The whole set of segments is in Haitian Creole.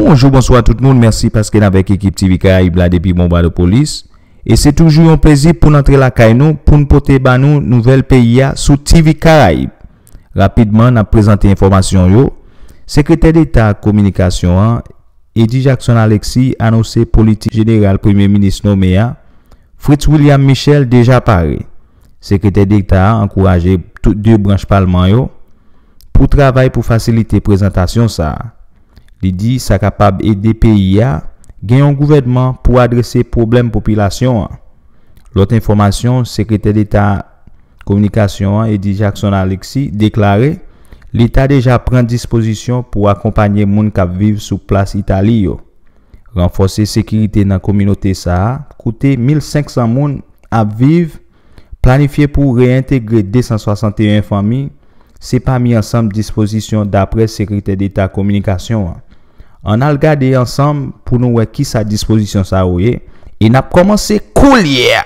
Bonjou bonswa tout moun mèsi paske n avèk ekip TV karayib la depi Bonbadopolis e se toujou yon plezi poun antre lakay nou poun pote ba nou nouvèl peyi a sou TV karayib rapidman nap prezante enfòmasyon yo sekretè deta kominikasyon an Eddy Jackson Alexis anose politik jeneral premye minis nome a Fritz William Michel deja pare. Sekretè Deta a ankouraje tout 2 branch palman yo pou travay pou fasilite prezantasyon sa a. Li di sa kapab ede peyi a gen yon gouvènman pou adrese pwoblèm popilasyon an. Lòt enfòmasyon Sekretè Deta Kominikasyon an Eddy Jackson Alexis deklare leta deja pran dispozisyon pou akonpanye moun k ap viv sou plas Itali yo. Ranfòse sekirite nan kominote sa a, kote 1,500 moun ap viv, planifye pou reyentegre 261 fanmi, se pami ansanm dispozisyon daprè Sekretè Deta Kominikasyon an. Ann al gade ansanm pou nou wè kisa dispozisyon sa yo ye, e n ap kòmanse koulye a!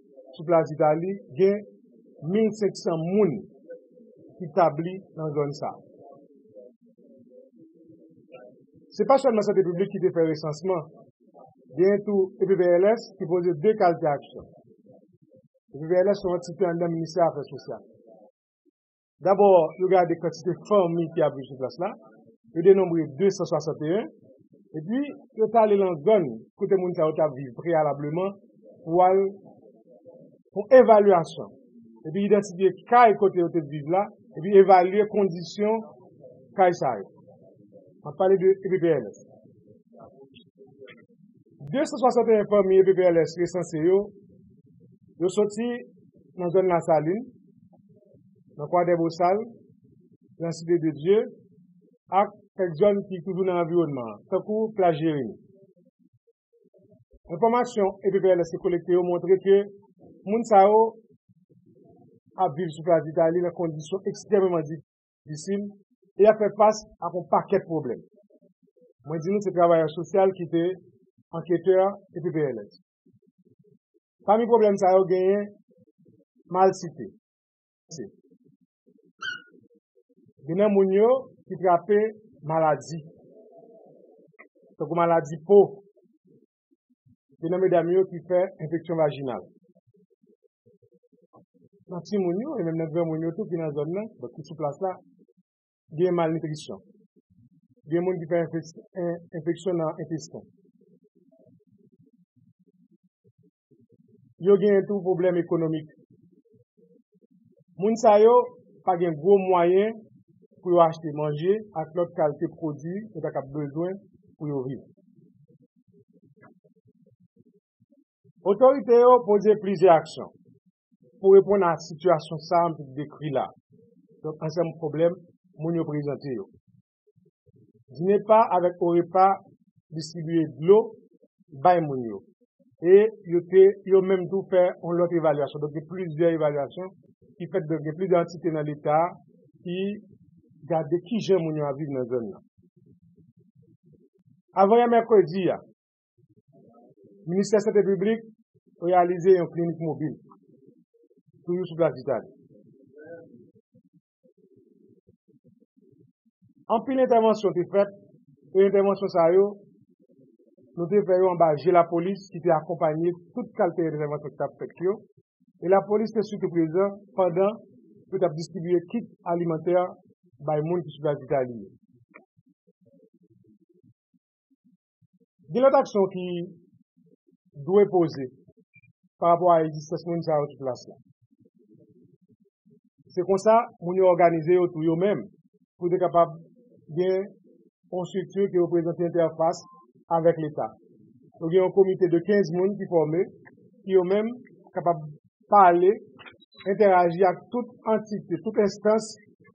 Sou plas Itali, gen 1,500 moun ki tabli nan zòn sa a. Se pa sèlman Sante Piblik ki te fè resansman, gen tou EPVLS ki poze de kalte aksyon. EPVLS se yon antite anndan Ministè Afè Sosyal. Dabò, yo gade kantite fanmi ki abri sou plas la, yo denonbre 261, epi yo t ale lan zòn kote moun sa yo t ap viv preyalableman pou al fon evalyasyon, epi idantifye kay kote yo te viv la, epi evalye kondisyon kay sa yo. M ap pale de EPPLS. 261 fanmi EPPLS resanse yo, yo soti nan zòn Lasalin, nan Kwadèbosal, nan Site de Dye ak kèk zòn ki toujou nan anviwònman an, tankou Plaj Jeremi. Enfòmasyon EPPLS te kolekte yo montre ke moun sa yo ap viv sou Plas Itali nan kondisyon ekstrèmeman difisil e y ap fè fas ak yon pakèt pwoblèm. Mwen di nou se travayè sosyal ki te anketè EPPLS. Pami pwoblèm sa yo genyen malsite. Gen nan moun yo ki trape maladi. Fè kou maladi po. Gen nan medam yo ki fè enfeksyon vajinal. Nan ti moun yo, e menm nan gran moun yo tou ki nan zòn nan, ki sou plas la, gen malnitrisyon, gen moun ki fè enfeksyon nan entesten. Yo gen tou pwoblèm ekonomik. Moun sa yo pa gen gwo mwayen pou yo achte manje ak lòt kalte pwodui yo ta kab bezwen pou yo viv. Otorite yo poze plizyè aksyon pou reponn a sitiyasyon sa a m sot dekri la a. Donk ansanm pwoblèm moun yo prezante yo. Dinepa avèk Orepa distribiye dlo bay moun yo e yo te yo menm tou fè yon lòt evalyasyon. Donk gen plizyè evalyasyon ki fèt donk gen plizyè antite nan leta ki gade kijan moun yo ap viv nan zòn nan. Avan yè mèkredi a, Ministè Sante Piblik reyalize yon klinik mobil, toujou sou plas Vitali. Anpil entèvansyon te fèt, e entèvansyon sa yo, nou te fè yo anba je lapolis ki te akonpanye tout kalte entèvansyon ki t ap fèt yo, e lapolis te sitou prezan pandan yo t ap distribye kit alimantè bay moun ki sou plas Vitali yo. Gen lòt aksyon ki dwe poze pa rapò a egzistans moun sa yo ki plas la. Se konsa moun yo òganize yo tou yo menm pou yo te kapab gen yon strikti ki reprezante entèfas avèk leta. Yo gen yon komite de 15 moun ki fòme ki yo menm kapab pale, entèraji ak tout antite, tout enstans,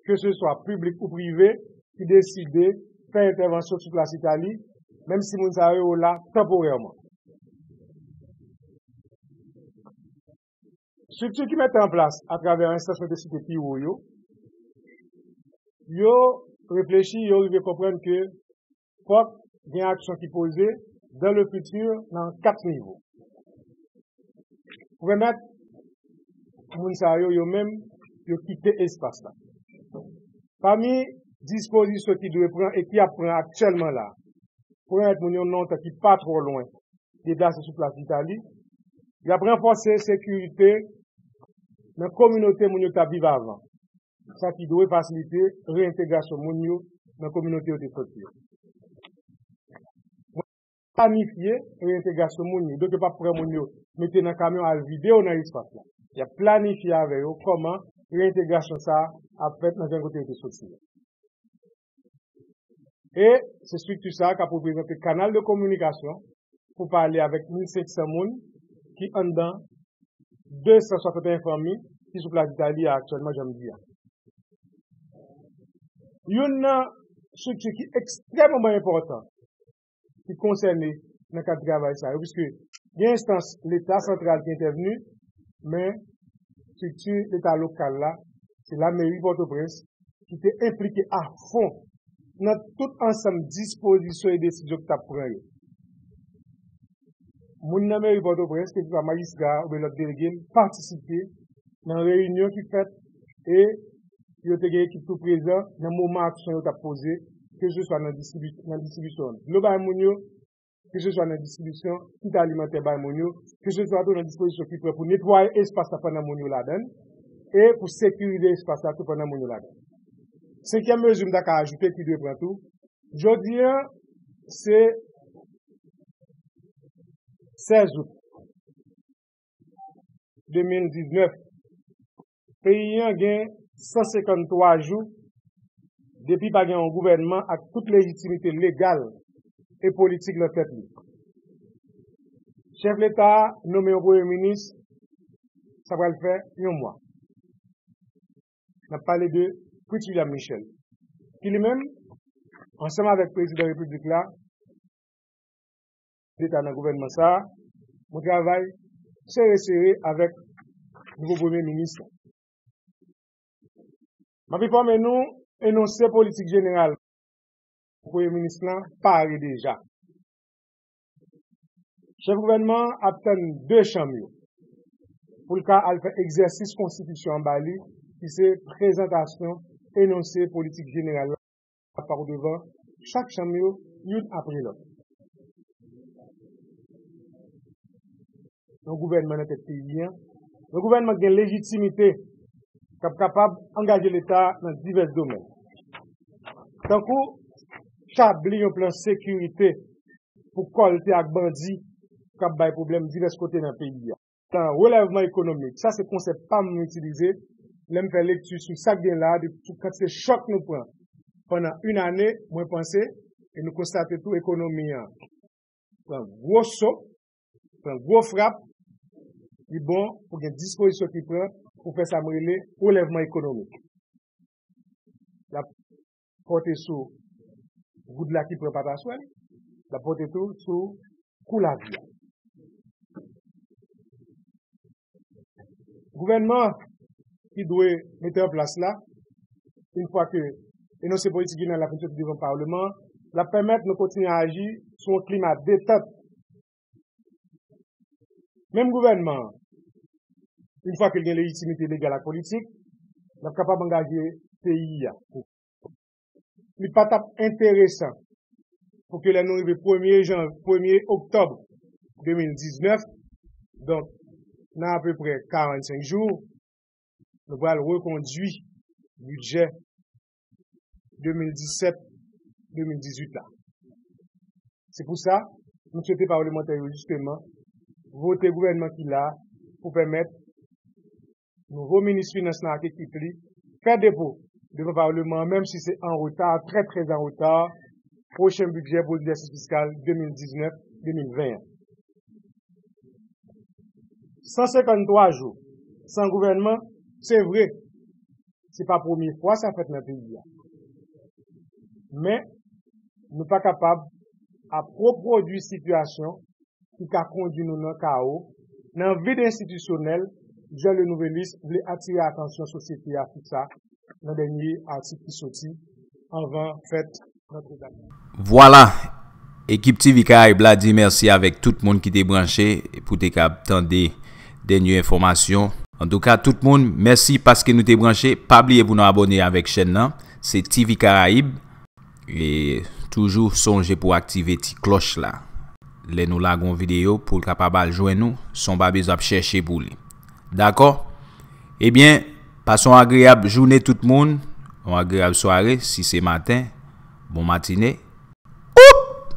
ke se swa piblik ou prive, ki deside fè entèvansyon sou plas Itali, menm si moun sa yo la tanporèman. Estrikti ki mete an plas atravè enstans mwen te site pi wo yo, yo reflechi, yo rive konprann ke fòk gen aksyon ki poze dans le futur nan 4 nivo. Pou pèmèt moun sa yo yo menm yo kite espas la. Pami dispozisyon ki dwe pran e ki ap pran aktyèlman la, pou pèmèt moun yon nontan ki pa twò lwen deplase sou plas Itali, y ap ranfòse sekirite nan kominote moun yo t ap viv avan. sa ki dwe fasilite reyentegrasyon moun yo nan kominote yo te soti yo. Mwen planifye reyentegrasyon moun yo, donk yo pa pran moun yo mete nan kamyon al vide yo nan espas la. Y ap planifye avè yo kòman reyentegrasyon sa a ap fèt nan zòn kote yo te soti yo. E se strikti sa a k ap reprezante kanal de kominikasyon pou pale avèk 1.500 moun ki anndan 261 fanmi ki sou plas Ditalia aktyèlman, jan m di a. Youn nan strikti ki ekstrèmeman enpòtan ki konsène nan kad travay sa yo, piske gen enstans leta santral ki entèvni, men estrikti leta lokal la, se lameri Pòtoprens ki te enplike a fon nan tout ansanm dispozisyon e desizyon ki t ap pran yo. Moun nan meri Pòtoprens, keseswa majistra a oubyen lòt delege l, patisipe nan reyinyon ki fèt e. yo te gen ekip tou prezan nan moman aksyon yo t ap poze, keseswa nan distribisyon dlo bay moun yo, keseswa nan distribisyon kit alimantè bay moun yo, keseswa tou nan dispozisyon ki pran pou netwaye espas la pandan moun yo ladan l e pou sekirize espas la tou pandan moun yo ladan l. Senkyèm mezi m ta ka ajoute ki dwe pran tou, jodi an se 16 out 2019, Peyi an gen 153 jou depi pa gen yon gouvènman ak tout lejitimite legal e politik nan tèt li. Chèf leta a nome yon premye minis sa pral fè yon mwa. N ap pale de Pritvilyam Michèl ki li menm ansanm avèk prezidan repiblik la, Deta nan gouvènman sa a, mwen travay sere sere avèk nouvo premye minis la. M ap enfòme nou, enonse politik jeneral premye minis lan pare deja. Chèf gouvènman an ap tann 2 chanm yo pou l ka al fè egzèsis konstitisyon an ba li ki se prezantasyon enonse politik jeneral la. ap pare devan chak chanm yo youn apre lòt. Yon gouvènman nan tèt peyi an, yon gouvènman ki gen lejitimite, k ap kapab angaje Leta nan divès domèn, tankou tabli yon plan sekirite pou kòlte ak bandi k ap bay pwoblèm divès kote nan peyi an. Nan relèvman ekonomik, sa se konsèp pa m mwen itilize lè m fè lekti sou sa k gen la a depi tout kantite chòk nou pran pandan yn ane, mwen panse e nou konstate tou ekonomi an pran gwo so, pran gwo frap, li bon pou gen dispozisyon ki pran pou fè sa m rele relèvman ekonomik. pòte sou goud la ki pran pataswèl, l ap pòte tou sou kou lavi a. Gouvènman ki dwe mete an plas la, yon fwa ke enonse politik Ginen la fin soti devan Paleman an, l ap pèmèt nou kontinye aji sou yon klima detant Menm gouvènman an, yon fwa ke l gen lejitimite legal ak politik, l ap kapab angaje peyi a. Li pa t ap enteresan pou ke lè nou rive premye jan, premye oktòb 2019, donk nan apeprè 45 jou, nou pral rekondui bidjè 2017, 2018 la. Se pou sa, nou swete palemantè yo jisteman vote gouvènman ki la pou pèmèt nouvo minis finans lan ak ekip li fè depo devan paleman an menm si se an reta, trè trè an reta, pwochen bidjè pou egzèsis fiskal 2019, 2020 an. 153 jou san gouvènman, se vre, se pa premye fwa sa fèt nan peyi a. Men, nou pa kapab ap repwodui sitiyasyon ki ka kondui nou nan kawo, nan vid enstitisyonèl, jan Le Nouvelliste vle atire atansyon sosyete a sou sa nan dènye atik ki soti anvan fèt Vwala! Ekip TV Karayib la di mèsi avèk tout moun ki te branche pou te kab tande dènye enfòmasyon. Antouka tout moun, mèsi paske nou te branche. Pa bliye pou nou abòne avèk chèn nan, se TV Karayib. E toujou sonje pou aktive ti klòch la. Lè nou lage yon videyo pou l kapab al jwenn ou, son babes ap chèche pou li. Dakò? Ebyen! Pase yon agreyab joune tout moun, yon agreyab sware si se maten, bon matine. Oop!